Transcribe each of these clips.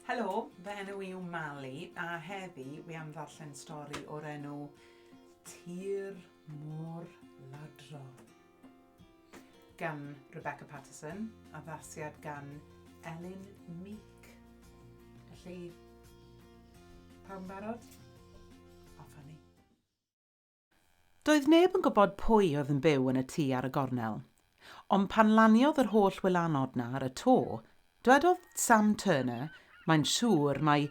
Helo, fy enw i yw Mali a heddi wi am ddarllen stori o'r enw Tir Mor Ladro gan Rebecca Patterson, addasiad gan Elin Meek. Felly, pawb yn barod? Off â ni. Doedd neb yn gwybod pwy oedd yn byw yn y tŷ ar y gornel. Ond pan laniodd yr holl wylanod 'na ar y to, dwedodd Sam Turner, mae'n siŵr mai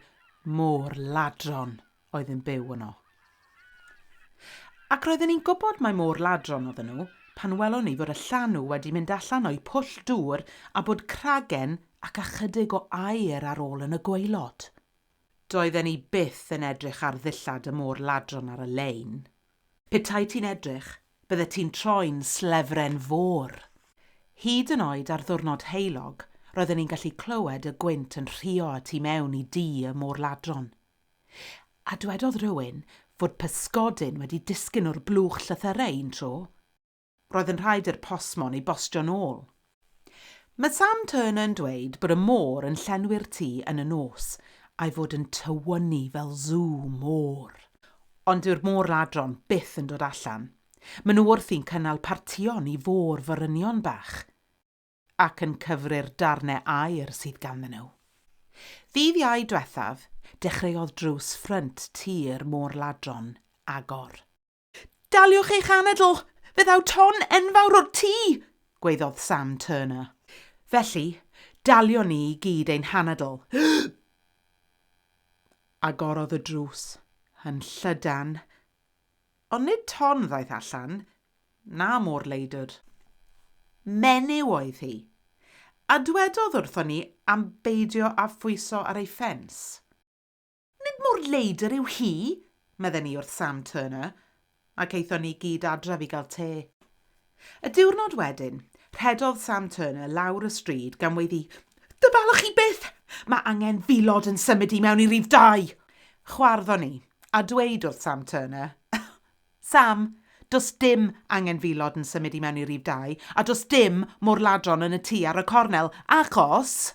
môr ladron oedd yn byw yno. Ac roedden ni'n gwybod mai môr ladron oedden nhw pan welon ni fod y llanw wedi mynd allan o'u pwll dŵr a bod cragen ac ychydig o aer ar ôl yn y gwaelod. Doedden ni byth yn edrych ar ddillad y môr ladron ar y lein. Petai ti'n edrych, byddet ti'n troi'n slefren fôr! Hyd yn oed ar ddiwrnod heulog, roedden ni'n gallu clywed y gwynt yn rhuo y tu mewn i dŷ y môr ladron. A dwedodd rhywun fod pysgodyn wedi disgyn o'r blwch llythyrau un tro. Roedd yn rhaid i'r postmon ei bostio'n ôl. Mae Sam Turner yn dweud bod y môr yn llenwi'r tŷ yn y nos, a'i fod yn tywynnu fel sŵ môr. Ond dyw'r môr ladron byth yn dod allan. Maen nhw wrthi'n cynnal partïon i fôr forynion bach, ac yn cyfri'r darnau aer sydd ganddyn nhw. Ddydd Iau diwethaf, dechreuodd drws ffrynt tŷ'r môr ladron agor. Daliwch eich anadl, fe ddaw ton enfawr o'r tŷ! gwaeddodd Sam Turner. Felly, dalion ni i gyd ein hanadl. Agorodd y drws yn llydan, ond nid ton ddaeth allan, na môr leidr. Menyw oedd hi, a dwedodd wrthon ni am beidio â phwyso ar ei ffens. Nid mor leidr yw hi, medden ni wrth Sam Turner, ac aethon ni gyd adref i gael te. Y diwrnod wedyn, rhedodd Sam Turner lawr y stryd gan weiddi, Dyfalwch chi byth! Mae angen filod yn symud i mewn i rif dau! Chwarddon ni, a dweud wrth Sam Turner, Sam, does dim angen filod yn symud i mewn i rif dau, a does dim môr-ladron yn y tŷ ar y cornel, achos!